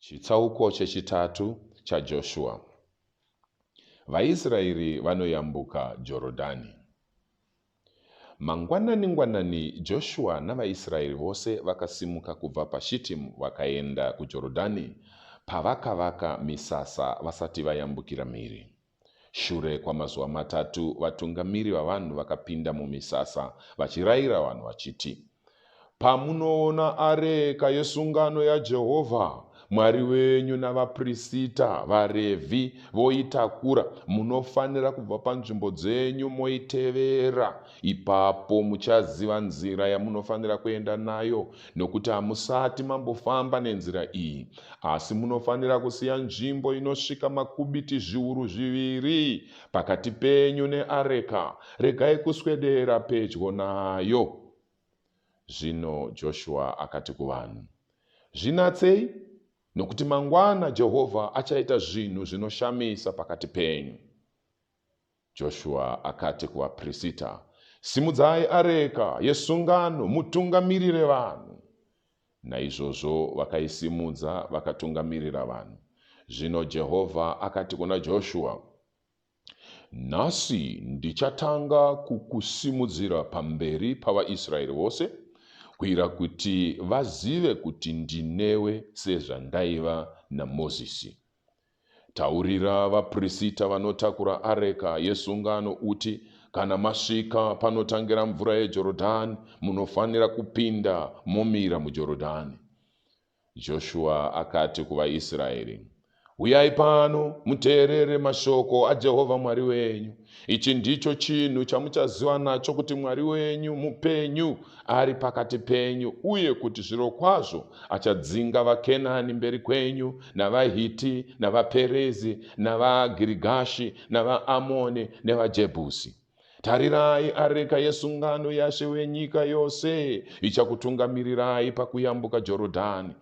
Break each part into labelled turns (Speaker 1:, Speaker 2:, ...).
Speaker 1: Chitsauko chechitatu chaJoshua. VaIsraeri vanoyambuka Jorodhani. Mangwanani-ngwanani Joshua navaIsraeri vose vakasimuka kubva paShitimu vakaenda kuJorodhani pavakavaka misasa vasati vayambukira mhiri. Shure kwamazuva matatu, vatungamiri vavanhu vakapinda mumisasa vachirayira vanhu vachiti, Pamunoona areka yesungano yaJehovha Mwari wenyu navaprista, vaRevhi, voitakura, munofanira kubva panzvimbo dzenyu moitevera Ipapo muchaziva nzira yamunofanira kuenda nayo, nokuti hamusati mambofamba nenzira iyi. Asi munofanira kusiya nzvimbo inosvika makubiti zviuru zviviri pakati penyu neareka, regai kuswedera pedyo nayo. Zvino Joshua akati kuvanhu, Zvinatsei, nokuti mangwana Jehovha achaita zvinhu zvinoshamisa pakati penyu. Joshua akati kuvapirisita, Simudzai areka yesungano mutungamirire vanhu. Naizvozvo vakaisimudza vakatungamirira vanhu. Zvino Jehovha akati kuna Joshua, Nhasi ndichatanga kukusimudzira pamberi pavaIsraeri vose, kuira kuti vazive kuti ndinewe sezvandaiva naMozisi. Taurira vaprisita vanotakura areka yesungano uti, Kana masvika panotangira mvura yeJorodhani, munofanira kupinda momira muJorodhani. Joshua akati kuvaIsraeri, Huyai pano, muteerere mashoko aJehovha Mwari wenyu. Ichi ndicho chinhu chamuchaziva nacho kuti Mwari wenyu mupenyu, ari pakati penyu, uye kuti zvirokwazvo achadzinga vaKenani mberi kwenyu, navaHiti, navaPerezi, navaGirigashi, navaAmoni, nevaJebhusi. Tarirai, areka yesungano yaShe wenyika yose ichakutungamirirai pakuyambuka Jorodhani,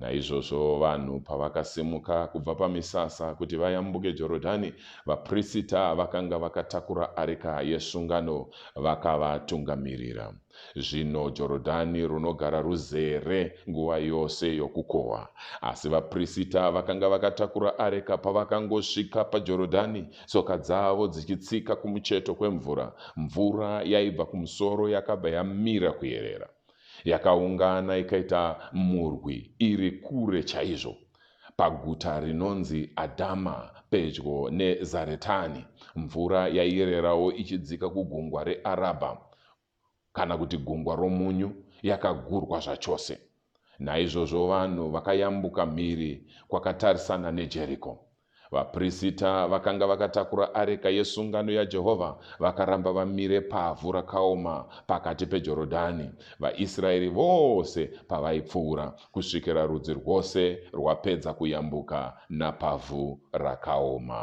Speaker 1: Naizvozvo vanhu pavakasimuka kubva pamisasa kuti vayambuke Jorodhani, vaprisita vakanga vakatakura areka yesungano vakavatungamirira. Zvino Jorodhani runogara ruzere nguva yose yokukohwa. Asi vaprisita vakanga vakatakura areka pavakangosvika paJorodhani, tsoka dzavo dzichitsika kumucheto kwemvura, mvura yaibva kumusoro yakabva yamira kuyerera. yakaungana ikaita murwi iri kure chaizvo paguta rinonzi Adhama pedyo neZaretani. Mvura yaiererawo ichidzika kugungwa reArabha, kana kuti gungwa romunyu, yakagurwa zvachose. Naizvozvo vanhu vakayambuka mhiri kwakatarisana neJeriko. Vaprisita vakanga vakatakura areka yesungano yaJehovha vakaramba vamire pavhu rakaoma pakati peJorodhani, vaIsraeri vose pavaipfuura, kusvikira rudzi rwose rwapedza kuyambuka napavhu rakaoma.